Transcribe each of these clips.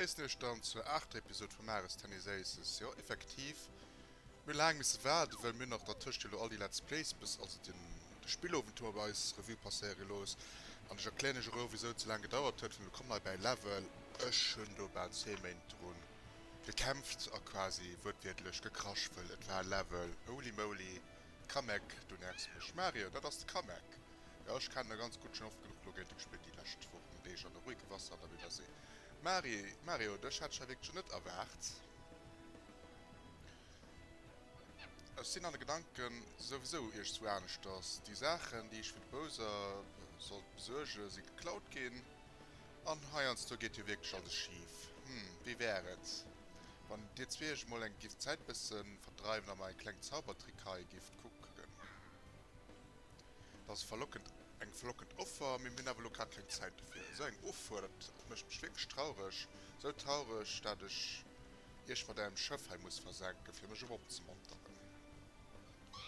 Gréissen iech dann zur aachter Episode vu Mares Tennis Aces. Jo effektiv mir hu laang misse waarden well mir nach dertëscht elo all déi Let's Plays bis also den de Spillowend hu mer bei eis Revue passéiere gelooss an ech erklären iech och elo wisou et sou laang gedauert huet well mir kommen hei bäi Level ech hunn do bal zwee Méint dru gekämpft a quasi wuertwiertlech gekrasch well et war Level Holy Moly Kamek du nervs mech Mario dat ass de Kamek. Jo, ech kennen der ganz gudd, schon oft genuch Logate gespillt déi lescht Wochen, Deeg an de ruhige Wasser an der wilder See. Mari, Mario, dech hätt ech hei wierklech net erwaart. Ech sin an de Gedanken souwisou iergstwou aaneschters. Déi Saachen déi ech fir de Bowser sollt besuergen si geklaut gin, an heiansdo geet jo wierklech alles schief. Hm, wéi wär et wann dir zwee iech emol eng gift d'Zäit bessen verdreiwen a mer eng kleng Zaubertrickhaie gift kucken? Dat ass verlockend, eng verlockend Offer, mee mir hunn awer elo grad keng Zäit dofir. Esou eng Offuer, dat mécht mech wierklech traureg, esou traureg, dat ech Iech mat Ärem Schëff hei muss versenken, fir mech erëm opzemonteren.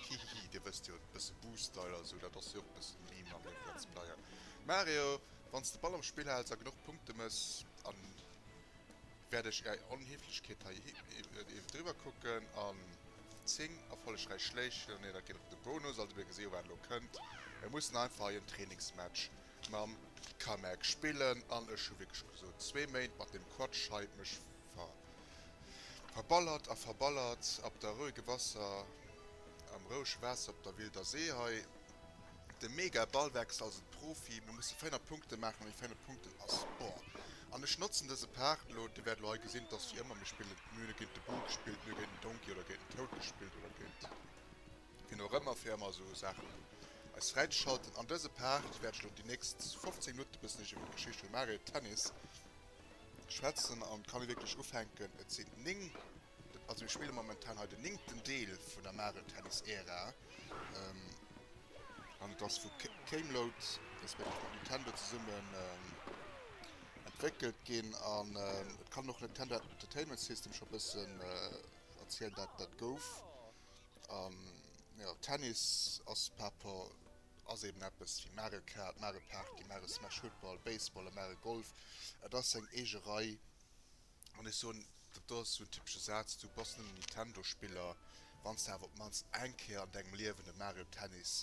Hihihi, Dir wësst jo, e bësse Boo-Style a sou, dat ass jo och e bësse Meme am Live Let's Player. Mario, wann s de Ball am Spill hälls a genuch Punkte méchs an. Wäert ech Är Onheeflechkeet hei iwwer driwwer kucken an 10 erfollegräich Schléich hunn. Nee, dat geet op de Bonus. Also mir gesi wat elo kënnt. Mir mussen einfach hei en Trainingsmatch mam Kamek spillen an ech hu wierklech gesot zwee Méint mat deem Quatsch hei mech verballert a verballert op der rouege Wasser, am rouege Waasser op der wilder See hei. De mega Ballwechsel also de Profi, mir musse féiner Punkten maachen, mee féiner Punkten ass boah. An ech notzen dëse Part elo, dir wäert elo hei gesinn, et ass wéi ëmmer, mir spillen, mir hunn e géint de Bull gespillt, mir hunn géint den Donkey oder géint den Toad gespillt oder géint wien och ëmmer, fir ëmmer esou Saachen eis fräizeschalten. An dëse Part wäert ech elo déi nächst 15 Minutten e bëssen iech iwwert d'Geschicht vum Mario Tennis schwätzen an kann ee wierklech ufänken, et sinn 9. Also mir spille momentan hei den néngten Deel vun der Mario Tennis Ära, an et ass vu Camelot respektiv Nintendo zesummen entwéckelt ginn, an et kann een och Nintendo Entertainment System scho bëssen erzielen wat dat gouf. An jo, Tennis ass par rapport, ass eben eppes wéi Mario Kart, Mario Party, Mario Smash, Football, Baseball a Mario Golf, et ass seng eege Rei An ech soen, dat do ass esou en typesche Saz, du bass nëmmen Nintendo-Spiller, wann s de awer op d'mannst eng Kéier an dengem Liewen e Mario Tennis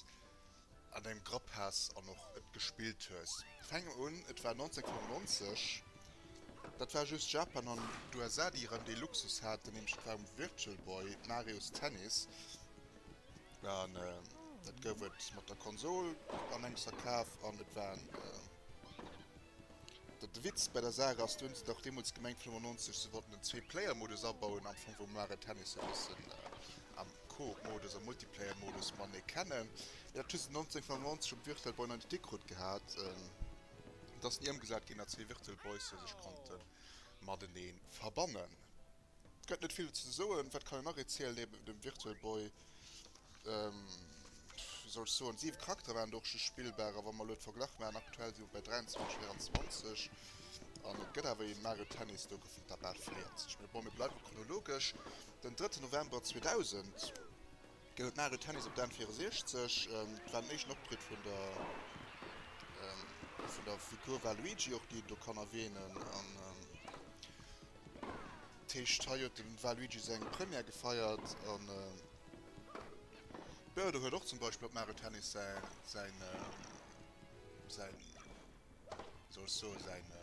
an dengem Grapp has an och et gespillt hues. Fänken un, et war 1995, dat war just Japan an d'USA, déi erëm dee Luxus haten, nämlech et war um Virtual Boy, Marios Tennis, an dat gouf et mat der Konsol an engems verkaf an et war en. Datt de Witz bäi der Saach ass, dun se och deemols gemengt 95, se wollten den Zwee-Player-Modus abauen am Fong wou Mario Tennis e bëssen am Co-op-Modus a Multiplayer-Modus matenee kennen. Mee dat hu se 1995 um Virtual Boy nach net hikrut gehat. Et ass ni ëmgesat ginn, datt zwee Virtual Boyse sech konnte matenee verbannen. Et gëtt net vill ze soen. Wat kann een nach erzielen niewent dem Virtual Boy? Wéi soll ech soen, siwe Charaktere waren do och just spillbar. A wa mer elo d'Verglach maachen, aktuell si mer bei 23, 24 an et gëtt awer ee Mario Tennis do, gouf vum Tappad 40. Mee bon, mir bleiwe chronologesch. Den drëtten November 2000 gëtt et Mario Tennis op der N64. Et war den éischten Optritt vun der vun der Figur Waluigi, och déi een do kann erwähnen. D'Héicht hei huet dem Waluigi seng Première gefeiert an jo do huet och zum Beispill op Mario Tennis säin säin wéi soll ech soen säin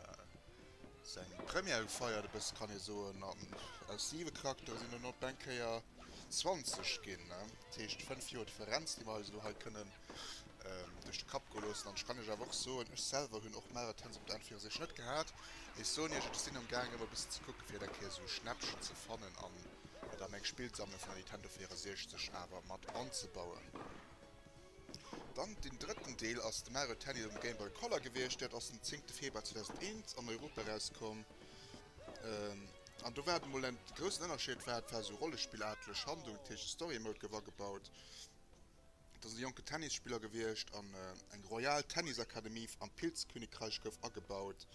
seng Première gefeiert e bësse kann ee soen an aus 7 Charakteren sinn der dann op eng Kéier 20 ginn, dat heescht 5 Joer Differenz déi mer eis elo hei kënnen duerch de Kapp goe loossen. An ech kann Iech awer och soen, ech selwer hunn och Marathons op der Enn viru sech net gehat. Mee ech soen Iech, ech sinn am gaangen ëmmer e bëssen ze kucken, fir et eng Kéier esou Schnäppchen ze fannen an et a meng Spillsammlung vun der Nintendo 64 awer mat anzebauen. Dann den drëtten Deel ass de Mario Tennis op dem Game Boy Color gewiescht. Dat ass den zéngte Februar 2001 an Europa erauskomm. An do war et emol en groussen Ënnerscheed, war et war esou Rollespillaatlech Handlung, dat heescht de Story Mode gouf agebaut. Et ass e jonke Tennisspiller gewiescht an eng Royal Tennis Akademie am Pilzkönigreich gouf agebaut.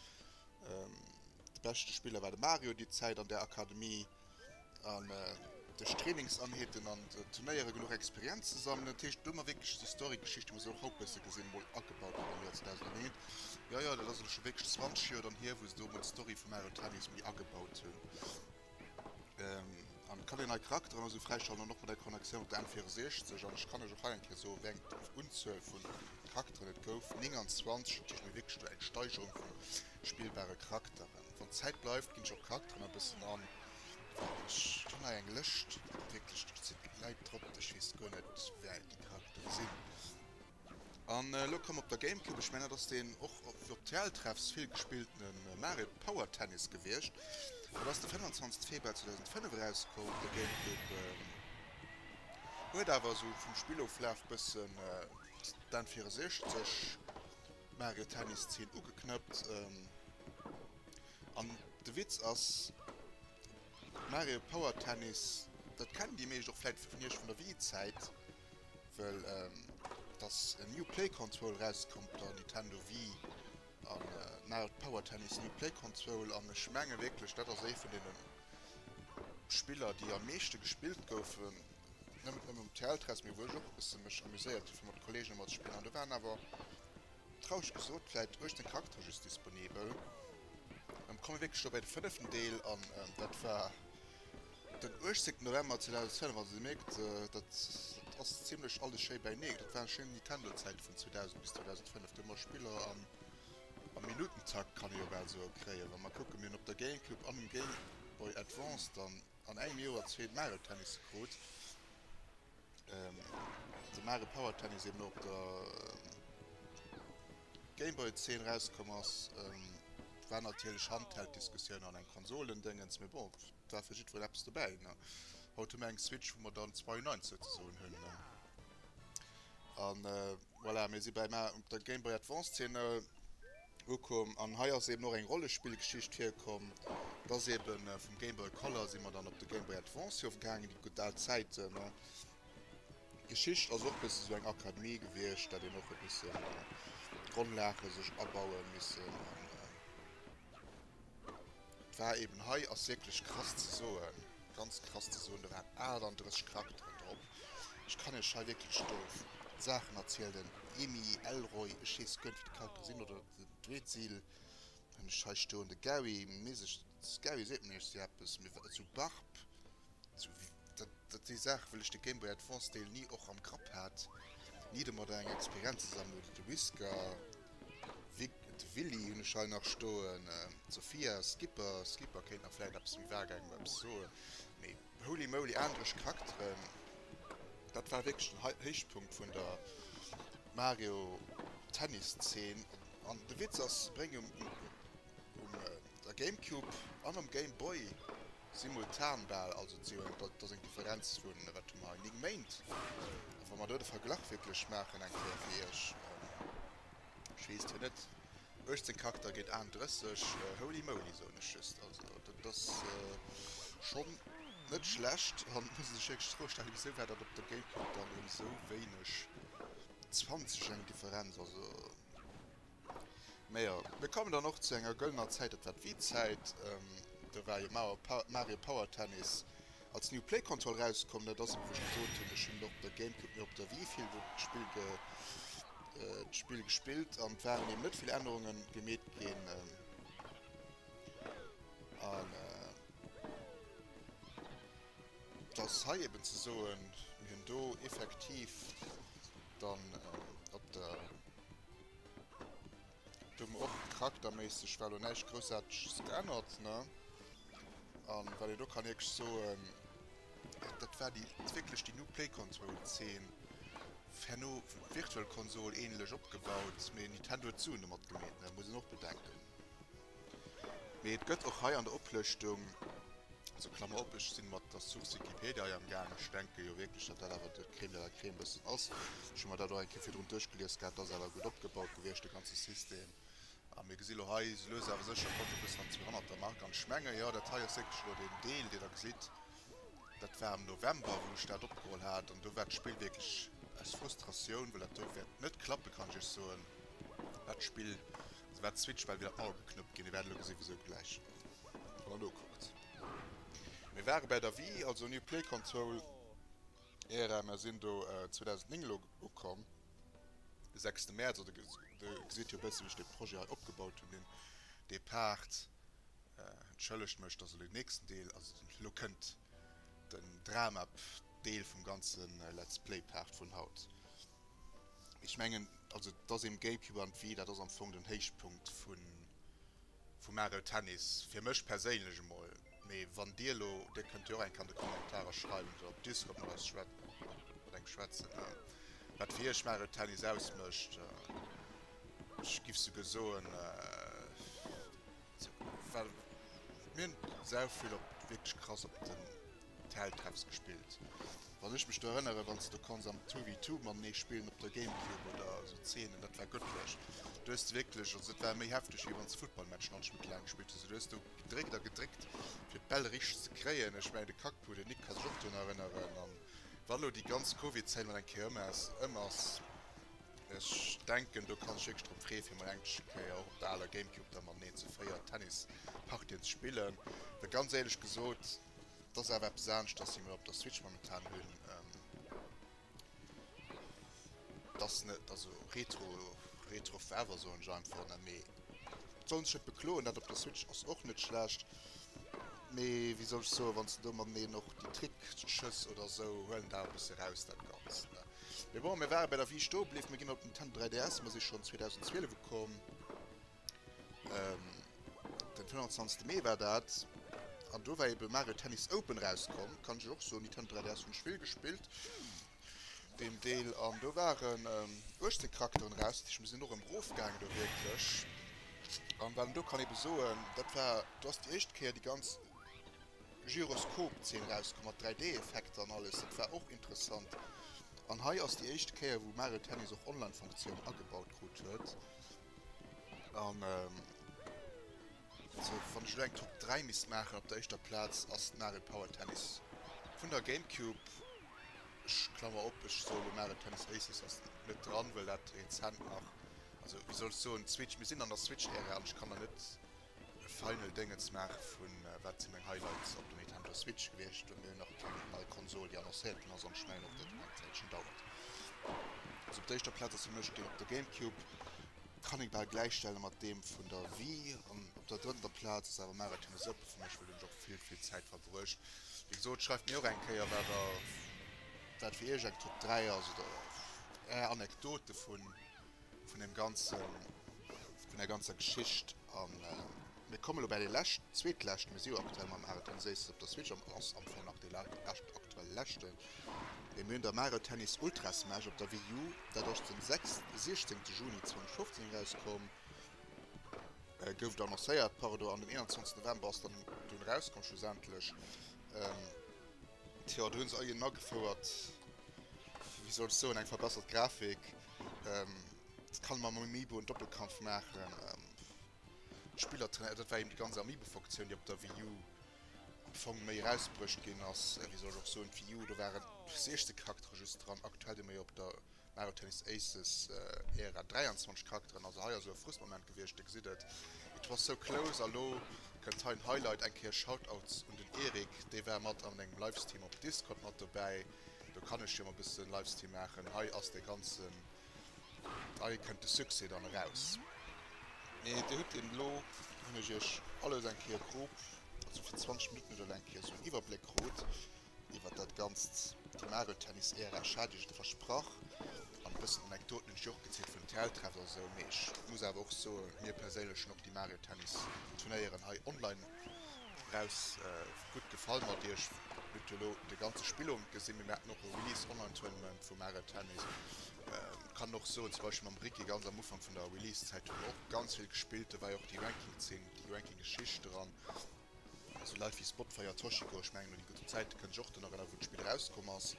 De beschte Spiller war de Mario déi Zäit an där Akademie an duerch Trainingsanheeten an Turnéiere genuch Experienz ze sammelen. Dat heescht do hu mer wierklech esou Storygeschichte wou se och haut bësse gesinn emol agebaut ginn am Joer 2001. Jo jo dat ass elo scho wierklech 20 Joer dann hier wou se do emol d'Story vum Mario Tennis méi agebaut hunn. An et kann een hei Charakteren esou fräischalten an och bei der Connexion op der N64. An ech kann lech och hei eng Kéier soen, wéi eng Unzuel vu Charakteren et gouf, 29. Dat heescht, mir hu wierklech do eng Steigerung vu spillbare Charakteren. Wann d'Zäit bleift, ginn ech och d'Charakteren e bëssen an. Ech hunn hei eng Lëscht, wierklech do si Leit drop, ech weess guer net, wéi déi Charakteren sinn. An elo komm op der Gamecube, ech mengen dat ass deen och fir op d'TEL-Treffs vill gespilltene Mario Power Tennis gewiescht. Et ass de 25 Februar 2005 erauskomm op der Gamecube. Huet awer esou vum Spilloflaf bëssen d'N 64 Mario Tennis Zeen ugeknëppt. An de Witz ass, Mario Power Tennis, dat kennen déi meescht och vläit vun iech vun der Wii-Zäit, Well et ass en New Play Control erausgekomm op der Nintendo Wii an Mario Power Tennis New Play Control an ech menge wierklech dat ass ee vun deene Spiller déi am meeschte gespillt goufen, net nëmme um TL-Test mee wou ech och e bësse mech amuséiert hu fir mat Kolleegen emol ze spillen an do waren awer traureg gesot vläit 18 Charaktere just disponibel. Komme mir wierklech elo bei de fënneften Deel an dat war. Den 18 November 2012, also dir mierkt dat ass zimlech alles schéi bäineen, dat waren schéin Nintendo Zäiten vun 2000 bis 2005, do hu mer Spiller am Minutentakt kann ee jo bal soe kréien. Wa mer kucken, mir hunn op der GameCube an um Game Boy Advance dann an engem Joer zwee Mario Tennisse krut, de Mario Power Tennis eben och op der Gameboy Zeen erauskomm ass, war natierlech Handheld Diskussioun an eng Konsolendéngens, mee bon. war fir jiddwereen eppes dobäi. Na, haut hu mir eng Switch, wou mer dann zwei Nines souzesoen hunn. Na, a voilà, mir si beim A op der Game Boy Advance-Szene ukomm. An hei ass eeben och eng Rollespillgeschicht virkomm. Et ass eeben vum Game Boy Color si mer dann op de Game Boy Advance ofgaangen, déi gutt al Zäiten. Na, d'Geschicht ass och e bësse sou eng Akademie gewiescht, dat een och e bësse Grondlage sech abaue missen. An Et war eben, hei ass wierklech krass ze soen, ganz krass ze soen, do waren 38 Charakteren drop. Ech kann iech hei wierklech do Saachen erzielen, den Emmi Elroy, ech weess guer net wéi de Charakter sinn, oder den Dweezil hunn ech hei stoen, de Gary, mee sech, Gary seet mir iech si eppes? Mee wat, esou Barb? Dat si Saachen, well ech de Game Boy Advance Deel ni och am Grapp hat, ni domat eng Experienz ze sammelen. Oder de Whisker, de Willy hunn ech hei nach stoen, d'Sophia, Skipper, Skipper kéint nach vläicht eppes méi vage engem eppes soen. Mee holy moly, aneresch Charakteren, dat war wierklech den Héichpunkt vun der Mario-Tennis-Zeen. An de Witz ass, se bréngen um der Gamecube an um Game Boy Simultan bal, also et si jo eng dat ass eng Differenz vun, wat hu mer hei, 9 Méint. A wa mer do de Verglach wierklech maachen eng Kéier fir iech, ech weess jo net, 18 Charakter géint 31, holy moly soen ech just. Also dat ass schonn net schlecht an et muss ee sech wierklech d'Fro stellen, wisou war dat op der Gamecube dann erëm esou wéineg, 20 eng Differenz, also. Mejo, mir kommen dann och zu enger gëllener Zäit, dat war d'Wii-Zäit. Do war jo Mario Power Tennis als New Play Konsol rauskomm. Dat ass ebe wou ech gesot hunn, ech hunn et op der Gamecube, mee op der Wii vill d'Spill gespillt an et waren eben net vill Ännerunge gemeet ginn. An et ass hei eben ze soen, mir hunn do effektiv dann äh, op der... Do hun mer och charakterméisseg war lo näischt Groussaarteges geännert, ne? An wat een do kann ierglech soen, dat dat war déi wierklech déi new Play-Console-Zeen. Herno wou d'Virtual Console ähnlech opgebaut, mee Nintendo huet d'Suen domat gemeet, ne? Muss een och bedenken. Mee et gëtt och hei an der Oplëschtung, also Klammer op, ech si mat der Source Wikipedia hei amgaangen, ech denke jo wierklech, datt dat awer de Crème de la Crème bëssen ass, ech hu mer dat och eng Kéier virdrun duerchgelies gehat, et ass awer gutt opgebaut gewiescht de ganze System. A mir gesi lo hei, esou lues awer sécher kommt e bëssen an d'Zweehonnertermark an ech menge, jo, dat hei ass wierklech elo deen Deel, deen Der gesitt, Dat war am November wou ech dat opgeholl hat an do war d'Spill wierklech aus Frustratioun, well dat do wäert net klappen, kann ech iech soen. Dat Spill, also wat d'Switch, well wieder all geknuppt ginn. Dir wäert elo gesinn wisou gläich, wann der nokuckt. Mir ware bäi der Wii, also New Play Console Era, mer sinn do 2009 elo ukomm, de sechste Mäerz, oder dir gesitt jo e bësse wéi ech dee Projet hei opgebaut hunn, deen Depart. Entschëllegt mech, dass elo den nächsten Deel, also elo kënnt den Dramap Deel vum ganze Let's Play Part vun haut. Mee ech mengen, also dass ee Game Cube an d'Wii, dat ass am Fong den Héichpunkt vu Mario Tennis, fir mech perséinlech emol. Mee wann dir elo, dir kënnt jo och enk an de Kommentarer schreiwen, oder op Discord mat eis, mat engem schwätzen, wat fir iech Mario Tennis ausmécht. Ech giff souguer soen. Well mir hunn sau vill op, wierklech krass op den Telltreps gespillt. Wann ech mech do erënneren, wann s de do konns am Two vs Two matenee spillen op der Gamecube oder esou Zeenen, dat war gëttlech. Do hues de wierklech, also dat war méi hefteg wéi wann s de Futtballmatchen all Schmitt laang gespillt hues. Du hues do gedréckt a gedréckt fir d'Bäll richteg ze kréien. Ech mengen de Kackpu, den Nick, ka sech och drun erënneren. An wa lo déi ganz Covid-Zäit mat eng Kéier ëm ass, Ech denken do kann ech wierklech drop freeë fir mol englesche Kéier och op der aler Gamecube da mateneen ze 4 Tennispartien ze spillen, well ganz éierlech gesot et ass awer eppes anescht dass ech mol op der Switch momentan hunn, et ass net also retro retro forever soen ech einfach net, mee et soll een sech net bekloen, dat op der Switch ass och net schlecht, mee wéi soll ech soen, wann s de do mateneen och déi Trickschëss oder esou huelen dat awer e bësse raus dat Ganzt ne. Mee bon, mir ware bei der Wii stoe bliww, mir ginn op den Nintendo 3DS, mer si schonn 2012 ukomm, den 25. Mee war dat, an do war ebe Mario Tennis Open erauskomm, kann ech iech och soen, Nintendo 3DS hunn ech vill gespillt, deen Deel, an do waren 18 Charakteren eraus, dat heescht mir sinn och erëm erofgaangen do wierklech, an wat een do kann ebe soen, dat war, do ass déi éischt Kéier déi ganz. Gyroskop Zeen erauskom mat 3D Effekter an alles, dat war och interessant an hei ass déi éischte Kéier wou Mario Tennis och Online Funktioun agebaut krut huet an also wann ech elo eng Top 3 misst maachen op der éischter Platz ass Mario Power Tennis vun der Gamecube, ech klammer op ech soe elo Mario Tennis Aces ass net dran well dat rezent nach also wéi soll ech soen Switch, mir sinn an der Switch Ära an ech kann der net Final Déngen ze maachen vun wat sinn meng Highlights op der Nintendo Switch gewiescht. Do hu mir jo nach eng kleng nei Konsol déi annoncéiert ginn ass an ech mengen och dat dat nach eng Zäitchen dauert. Also op der éischter Plaz ass fir mech deen op der Gamecube, kann ee bal gläichstelle mat deem vun der Wii an op der drëtter Plaz ass awer Mario Tennis Open fir mech well do hunn ech och vill vill Zäit verbruecht. Wéi gesot schreift mir och eng Kéier wat der wat fir iech eng Top 3 ass oder är Anekdote vun vun dem ganzen, vun der ganzer Geschicht an mir komme lo bäi déi lescht, zweetlescht Miss U aktuell mam Mario Tennis, éistes op der Switch an ass am Fong nach déi lescht, aktuell leschte mee mir hunn da Mario Tennis Ultra Smash op der Wii U, dat ass den sechs, siechzéngte Juni 2015 erauskomm, gouf et annoncéiert, pardon, an den 21 November ass dann dunn erauskomm schlussendlech. Tjo, do hunn se eien agefouert, wéi soll ech soen, eng verbessert Grafik. Dat kann mam Amiibo en Doppelkampf maachen, Spiller trainéieren. Dat war eben déi ganz Amiibo-Fonctioun, déi op der Wii U am Fong méi erausbruecht ginn ass. Wéi soll ech och soen, d'Wii U, do waren 16 Charaktere just dran, aktuell deemno jo op der Mario Tennis Aces, eer a 23 Charakteren, also hei ass elo e Frustmoment gewiescht, dir gesitt et, it was so close, a lo kënnt hei en Highlight, eng Kéier Shoutouts un den Eric, dee war mat an engem Livestream op Discord mat dobäi, do kann ech jo mol e bësse Livestream maachen, hei ass dee ganzen, hei kënnt de Succès dann eraus. Mee dir hutt een, elo hunn ech iech alles eng Kéier grob, also fir 20 Minutten oder elo eng Kéier esou en Iwwerbléck krut, iwwert dat ganzt déi Mageltennis-Ära Schadeeschen versprach an e bëssen Anekdoten hunn ech jo och gezielt vun den Theatertreffen a sou, mee ech muss awer och soen, mir perséinlech hunn och déi Mageltennis-Turnéieren hei online eraus gutt gefall. Mat Iech hutt jo elo de ganze Spillowend gesinn, mee mir haten och e Release-Online-Tournament vu Mageltennis. Kann och soen, zum Beispill mam Ricky, ganz am Ufank vun der Release-Zäit hu mer och ganz vill gespillt, do war jo och déi Ranking-Zeen, déi Ranking-Geschicht dran. Sou Leit wéi Spotfire, Toshiko, ech mengen un déi gudden Zäite kënn ech och dann erënneren, wou d'Spill erauskomm ass.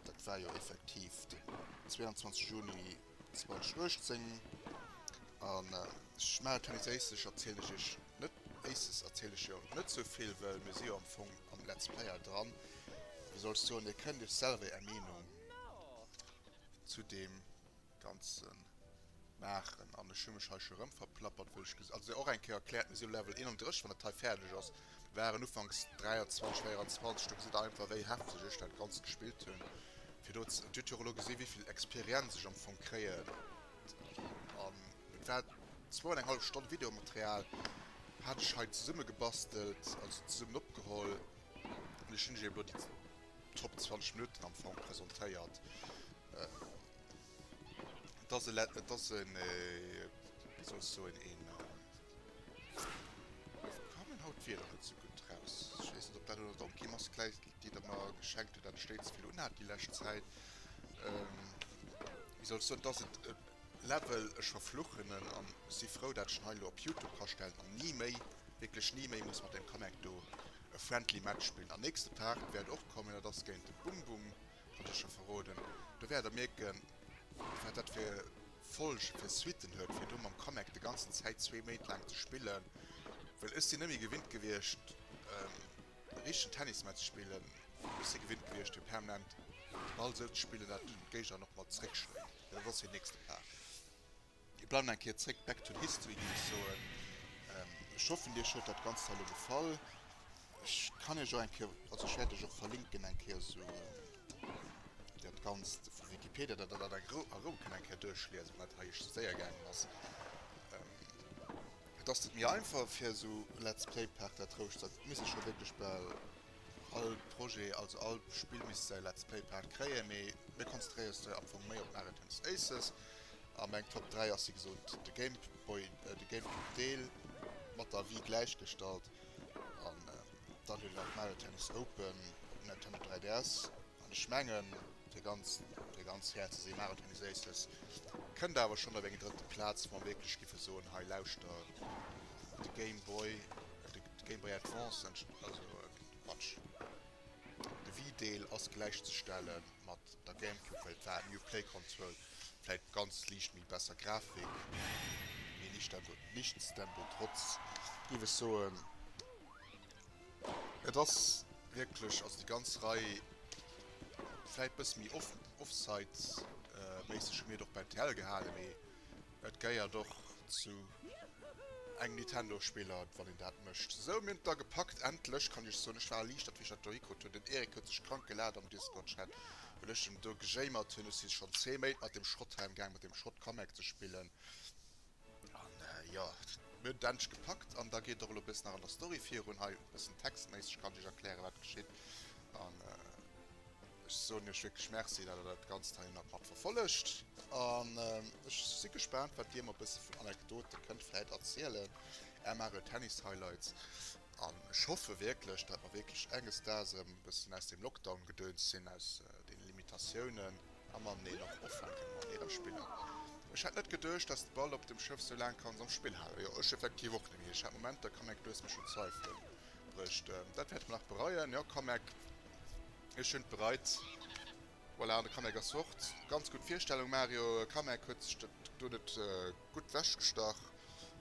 Dat war jo effektiv den 22 Juni 2018 an ech maachen et jo nees éislech, erzielen ech iech net éisses, erzielen ech jo net sou vill, well mir si jo am Fong am Let's Player dran. Wéi soll ech soen, dir kënnt iech selwer är Meenung zu deem. Ganzen maachen an ech hu mech hei scho rëm verplappert wëll ech ges also se och eng Kéier erkläert mir si um Level 31 wann dat hei fäerdeg ass waren ufanks 23 24 do gesitt der einfach wéi hefteg ech dat Ganzt gespillt hunn fir do ze an dir hutt jo och elo gesi wéivill Experienz ech am Fong kréien an et war zwou an eng hallef Stonn Videomaterial hat ech hei zesumme gebastelt also zesummen opgeholl an ech hunn iech elo déi Top 20 Minutten am Fong presentéiert. Et ass e let et ass en wéi soll ech soen een ka meng haut d'Wierder net esou gutt raus ech weess net op dat elo Donkey Mask läit déi der mer geschenkt hutt dat ech déi ze vill unhat déi lescht Zäit wéi soll ech soen et ass et e Level ech verfluchen en an si frou dat ech en hei elo op Youtube ka stellen an ni méi wierklech ni méi muss mat dem Connect do e friendly Match spillen an nächste Part wäert och kommen dat ass géint de Bum Bum. Kann ech scho verroden. Do wäert der mierken, wat dat fir Folge fir Suitten huet, fir do mam Kamek de ganzen Zäit zwee Méint laang ze spillen. Well ech sinn net méi gewinnt gewiescht, e richtegen Tennis mat ze spillen. Ech si gewinnt gewiescht, fir permanent de Ball esou ze spillen, datt d'Géignerin och mat zeréckschléit, well dat ass hir nächste Plage. Mir bleiwen eng Kéier zréck, back to history géif ech soen. Ech hoffen Iech huet dat Ganzt hei elo gefall. Ech kann Iech och eng Kéier, also ech wäert Iech och verlinken eng Kéier esou dat Ganzt vu Wikipedia, datt Der dat a Rou a Rou kënnt eng Kéier duerchliesen, wat hei iech séier gaangen ass. Et ass net méi einfach fir esou Let's Play Part dat roueg ze, et misst ee scho wierklech bal. All Projet, also all Spill misst säi Let's Play Part kréien, mee mir konzentréiere sech am Fong méi op Mario Tennis Aces a meng Top 3 ass wéi gesot de Game Boy, de Gamecube Deel mat der Wii gläichgestallt an dann hunn ech nach Mario Tennis Open op Nintendo 3DS an ech mengen fir ganz fir ganz fair ze sinn, Mario Tennis Aces kënnt awer schonn op eng drëtte Plaz, wa mer wierklech giffe soen, hei lauschter de Game Boy. D'Game Boy Advance entsteet also quatsch. De Wii Deel ass gläichzestelle mat der Gamecube well et war eng Uplay Konsoul, vläit ganz liicht méi besser Grafik, méi lichter gutt. Nichtsdembotrotz géif ech soen et ass wierklech, also déi ganz Rei, vläit bësse méi off offsite méisseg hu mir et och bei TL gehale mee. Et geiert och zu engem Nintendo Spiller wann een dat mecht. Sou mir hun et da gepackt endlech kann iech soen ech war erliichtert wéi ech dat do hikrut hun. Den Eric huet sech krank gelaacht am Discord Chat well ech em do gejéimert hun. Ech si schon 10 Méint mat dem Schrotthelm gaang mat dem Schrott Comac ze spillen an jo mir hun et endlech gepackt an da geet och elo e bëssen nach an der Story virun. Hei e bëssen textméisseg kann ech iech erklären wat geschitt an. Ech soen iech wierklech Merci, dat der dat Ganzt hei nach mat verfollegt, an ech si gespaant, wat dir mer bësse vun Anekdote kënnt vläit erzielen, Är Mario Tennis Highlights, an ech hoffe wierklech, dat mer wierklech enges Daags erëm e bëssen aus deem Lockdown-Gedöns sinn, aus deene Limitatiounen, a mateneen och ufänke kënne mateneen spillen. Ech hätt net geduecht, dass de Ball op dem Schëff sou laang kanns am Spill halen. Jo, ech effektiv och net, mee ech hat Momenter, Kamek, du hues mech un d'Zweifelen bruecht, dat wäerte mer nach bereien, jo, Kamek. Ech hunn et bereit. Voilà, an de Kamek ass fort. Ganz gutt Virstellung, Mario. Kamek huet sech dat do net gutt wechgestach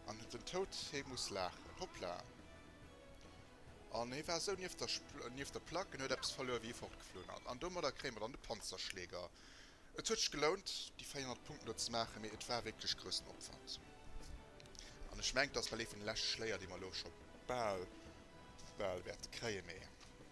an huet den Toad. Hee muss laachen. Hoppla! An hee war esou nieft der nieft der Plack an huet eppes verluer, wéi hie fortgeflunn ass. An domadder kréie mer dann de Panzerschläger. Et huet sech gelount, déi 400 Punkten do ze maachen, mee et war wierklech groussen Opwand. An ech mengen, et ass well ee vun de leschte Schléier, déi mer elo scho bal, bal wäerte kréien. Mee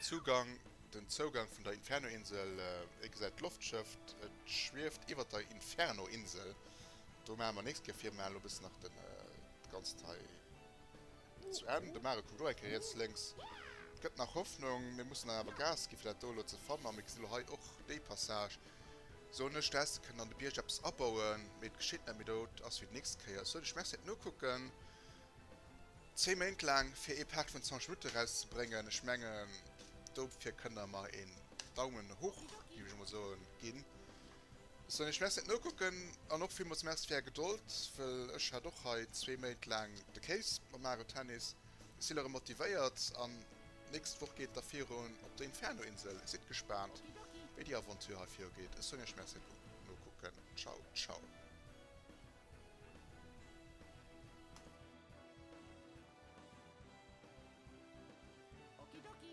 Zugang Den Zougang vun der Inferno-Insel, Dir gesäit d'Loftschëff, et schwieft iwwert der Inferno-Insel. Do maache mer nächst Kéier fir, maachen elo bis nach de ganzt hei zu Enn. De Mare kuckt och eng Kéier riets, lénks. Et gëtt nach Hoffnung. Mir mussen awer Gas ginn, fir dat do elo ze fannen. A mir gesinn elo hei och déi Passage, soen ech, do häss de kënnen an de Bierg eppes abauen. Mee et geschitt net méi. Dot ass fir déi nächst Kéier. Ech soen iech Merci fir d'Nokucken. Zwee Méint laang fir ee Part vun 20 Minutten erauszebréngen, ech mengen dofir kënnt der mer een Daumen hoch géif ech emol soen ginn. Sou ech mess net nokucken an och villmools Merci fir är Gedold, well ech hat och hei zwee Méint laang de Kéis mam Mario Tennis. Ech si lerëm motivéiert an d'nächst Woch geet et da virun op der Inferno Insel. Sidd gespaant wéi déi Aventure hei viru geet. Ech soen iech Merci fir d'Nokucken. Ciao ciao. Okidoki.